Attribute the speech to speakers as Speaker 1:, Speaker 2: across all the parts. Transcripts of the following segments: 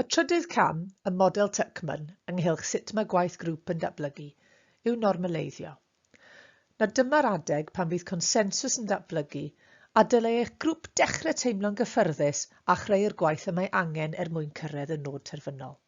Speaker 1: Y trydydd cam ym model Tuckman ynghylch sut mae gwaith grŵp yn datblygu yw normaleiddio. Na dyma'r adeg pan fydd consensws yn datblygu a dylai eich grŵp dechrau teimlo'n gyffyrddus a chreu'r gwaith y mae angen er mwyn cyrraedd y nod terfynol.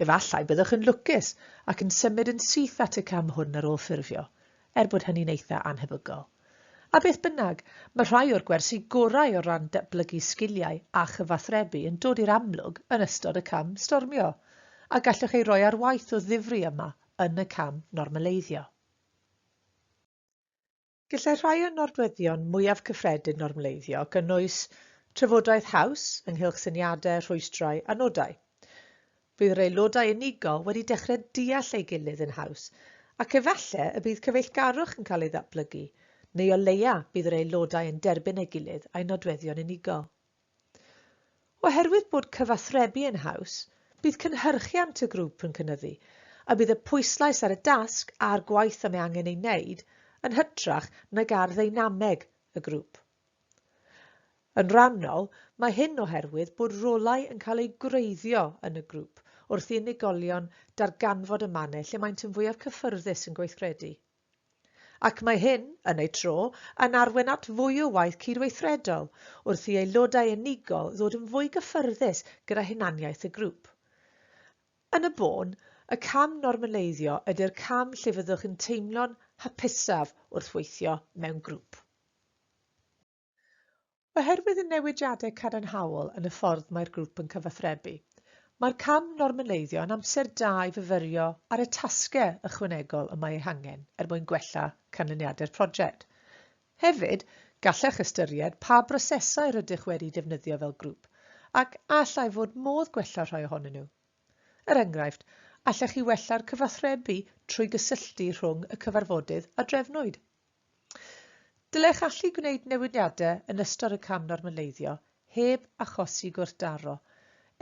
Speaker 1: Efallai byddwch yn lwcus ac yn symud yn syth at y cam hwn ar ôl ffurfio, er bod hynny'n eitha' annhebygol. A beth bynnag, mae rhai o'r gwersi gorau o ran datblygu sgiliau a chyfathrebu yn dod i'r amlwg yn ystod y cam stormio, a gallwch ei roi ar waith o ddifri yma yn y cam normaleiddio. Gallai rhai o nodweddion mwyaf cyffredin normleiddio gynnwys trafodaeth haws ynghylch syniadau, rhwystrau a nodau. Bydd yr aelodau unigol wedi dechrau deall ei gilydd yn haws, ac efallai y bydd cyfeillgarwch yn cael ei ddatblygu, neu o leia bydd yr aelodau yn derbyn ei gilydd a'i nodweddion unigol. Oherwydd bod cyfathrebu yn haws, bydd cynhyrchiant y grŵp yn cynyddu, a bydd y pwyslais ar y dasg a'r gwaith y mae angen ei wneud yn hytrach nag ar ddeinameg y grŵp. Yn rhannol, mae hyn oherwydd bod rolau yn cael eu gwreiddio yn y grŵp wrth i unigolion darganfod y mannau lle maent yn fwyaf cyffyrddus yn gweithredu. ac mae hyn, yn ei tro, yn arwain at fwy o waith cydweithredol wrth i aelodau unigol ddod yn fwy gyffyrddus gyda hunaniaeth y grŵp. Yn y bôn, y cam normaleiddio ydy'r cam lle fyddwch yn teimlo'n hapusaf wrth weithio mewn grŵp. Oherwydd y newidiadau cadarnhaol yn y ffordd mae'r grŵp yn cyfathrebu, mae'r cam normaleiddio yn amser da i fyfyrio ar y tasgau ychwanegol y mae eu hangen er mwyn gwella canlyniadau'r prosiect. Hefyd, gallech ystyried pa brosesau rydych wedi defnyddio fel grŵp ac a allai fod modd gwella rhai ohonyn nhw. Er enghraifft, allech chi wella'r cyfathrebu trwy gysylltu rhwng y cyfarfodydd a drefnwyd. Dylech allu gwneud newidiadau yn ystod y cam normaleiddio heb achosi gwrthdaro,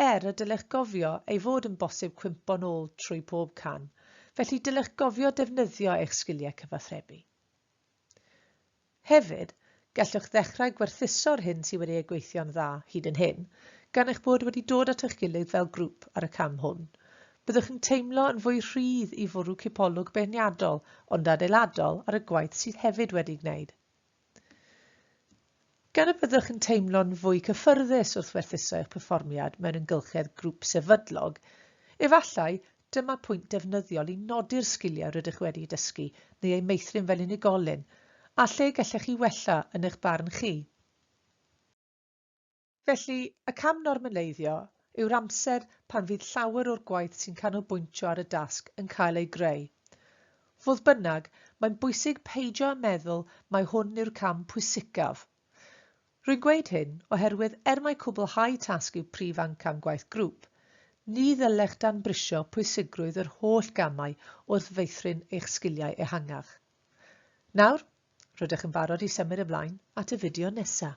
Speaker 1: er y dylech gofio ei fod yn bosib cwympo'n ôl trwy bob cam, felly dylech gofio defnyddio eich sgiliau cyfathrebu. Hefyd, gallwch ddechrau gwerthuso'r hyn sydd wedi ei gweithio'n dda hyd yn hyn, gan eich bod wedi dod at eich gilydd fel grŵp ar y cam hwn. Byddwch yn teimlo yn fwy rhydd i fwrw cipolwg beirniadol ond adeiladol ar y gwaith sydd hefyd wedi gwneud. Gan y byddwch yn teimlo'n fwy cyffyrddus wrth werthuso eich perfformiad mewn ymgylchedd grŵp sefydlog, efallai dyma pwynt defnyddiol i nodi'r sgiliau rydych wedi dysgu neu eu meithrin fel unigolyn, a lle gellech chi wella yn eich barn chi. Felly, y cam normaleiddio yw'r amser pan fydd llawer o'r gwaith sy'n canolbwyntio ar y dasg yn cael ei greu. Fodd bynnag, mae'n bwysig peidio â meddwl mai hwn yw'r cam pwysicaf. Rwy'n gweud hyn oherwydd er mai cwblhau tasg yw prif amcan gwaith grŵp, ni ddylech danbrisio pwysigrwydd yr holl gamau wrth feithrin eich sgiliau ehangach. Nawr, rydych yn barod i symud ymlaen at y fideo nesaf.